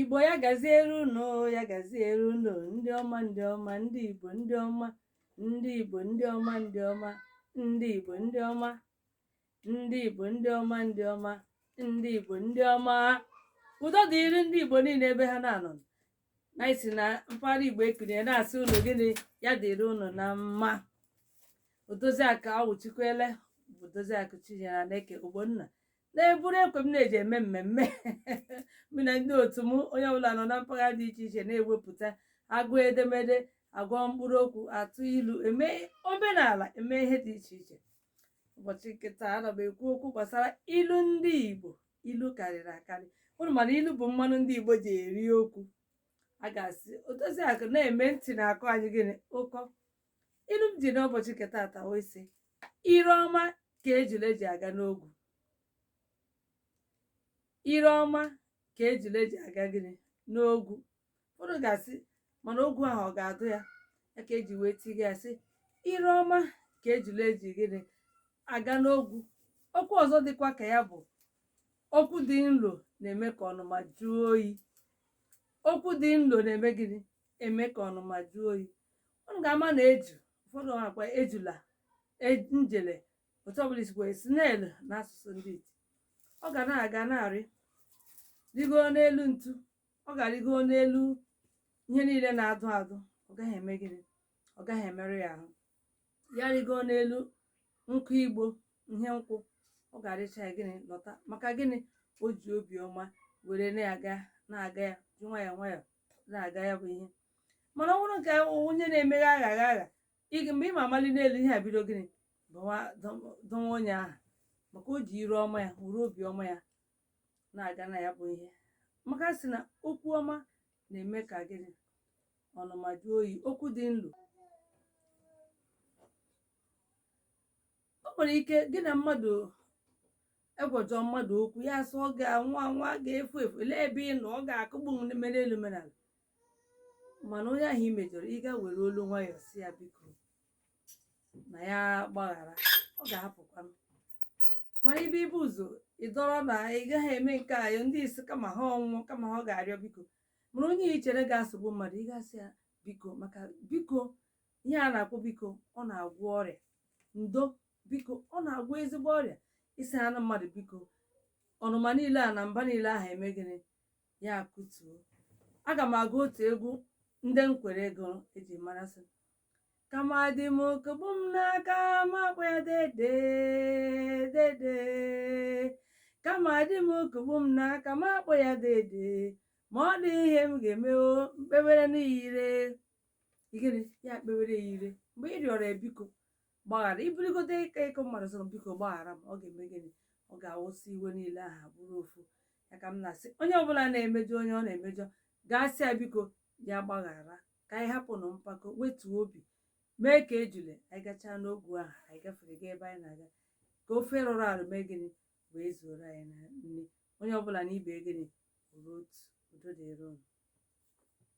igbo ya gaziere unu ya gaziere unu ndị ọma ndị ọma ndị igbo ndị ọma ndị igbo ndị ọma ndị ọma ndị igbo ndị ọma ndị igbo ndị ọma ndị ọma ndị igbo ndị ọma udo dịrị ndị igbo niile ebe ha na-anọ na isi na mpaghara igbo ekirie na-asị unu gịnị ya dịrị unu na mma odoziakụ awụchikwele bụ odoziakụ chinyere aneke ogbonna na-eburu ekwe m na-eji eme mmemme mụ na ndị otu m onye ọbụla nọ na mpaghara dị iche iche na-ewepụta agụ edemede agụ mkpụrụ okwu atụ ilu eme omenala eme ihe dị iche iche ụbọchị nke taa ana m ekwu okwu gbasara ilu ndị Igbo ilu karịrị akarị unu ma na ilu bụ mmanụ ndị Igbo ji eri okwu a ga-asị odoziakụ na-eme ntị na-akọ anyị gịnị ọkọ ilu m ji n'ụbọchị nke tata wee sị ire ọma ka ejule ji aga n'ogwu ire ọma ka ejule ji aga gịnị n'ogwu ụfọdụ ga-asị mana ogwu ahụ ọ ga-adụ ya ya ka e ji wee tighe ya sị ire ọma ka ejule ji gịnị aga n'ogwu okwu ọzọ dịkwa ka ya bụ okwu dị nlo na-eme ka ọnụma jụọ oyi okwu dị nlo na-eme gịnị eme ka ọnụma jụọ oyi unu ga-ama na eju ụfọdụ akpọ ya ejula e- njele otu ọbụla i si kpọọ snail na asụsụ ndị iti ọ ga na-aga na-arị rịgo n'elu ntu ọ ga-arịgo n'elu ihe niile na-adụ adụ ọ gaghị eme gịnị ọ gaghị emerụ ya ahụ ya rịgo n'elu nkụ igbo ihe nkwụ ọ ga-arịcha ya gịnị lọta maka gịnị o ji obiọma were na-aga na-aga ya ji nwayọọ nwayọọ na-aga ya bụ ihe mana ọ bụrụ nke onye na-emeghe aghara agha ị- mgbe ị ma amali n'elu ihe a bido gịnị dụwa onye ahụ maka o ji ire ọma ya were obi ọma ya na-aga na ya bụ ihe maka a sị na okwu ọma na-eme ka gịnị ọnụma jụọ oyi okwu dị nlo o nwere ike gị na mmadụ ị gwajọọ mmadụ okwu ya sị ọ ga-anwụ anwụ a ga-efu efu lee ebe ị nọ ọ ga-akụgbu m mee elu mee ala mana onye ahụ i mejọrọ ị ga were olu nwayọọ sị ya biko na ya gbaghara ọ ga-ahapụkwa mana ibe ibu ụzọ ị dọrọ na ị gaghị eme nke a ndị isi kama ha anwụọ kama ha ga-arịọ biko mana onye i chere ga-asụgbu mmadụ ị ga-asị ya biko maka biko ihe a na-akpọ biko ọ na-agwọ ọrịa ndo biko ọ na-agwọ ezigbo ọrịa ị sịhaanụ mmadụ biko ọnụma niile a na mba niile ahụ emee gịnị ya akụtuo aga m agụ otu egwu ndị nkwere ego eji mara sị kama di m ọ kụgbuo m n'aka m akpọọ ya dede dede kama di m ọ kụgbuo m n'aka m akpọọ ya dede ma ọ dị ihe m ga-eme o m kpewereni ya ire gịnị ya kpewere ya ire mgbe ị rịọrọ ya biko gbaghara i burugodu ịka ịkọ mmadụ sọrọ biko gbaghara m ọ ga-eme gịnị ọ ga-awụsị iwe niile aha bụrụ ofu ya ka m na-asị onye ọbụla na-emejọ onye ọ na-emejọ gaa sị ya biko ya gbaghara ka anyị hapụnụ mpako wetuo obi mee ka ejule anyị gachaa n'ogwu ahụ anyị gafere gaa ebe anyị na-aga ka ofe rụrụ arụ mee gịnị wee zuoro anyị na nri onye ọbụla na ibe gịnị bụrụ otu udo dịrị ụnụ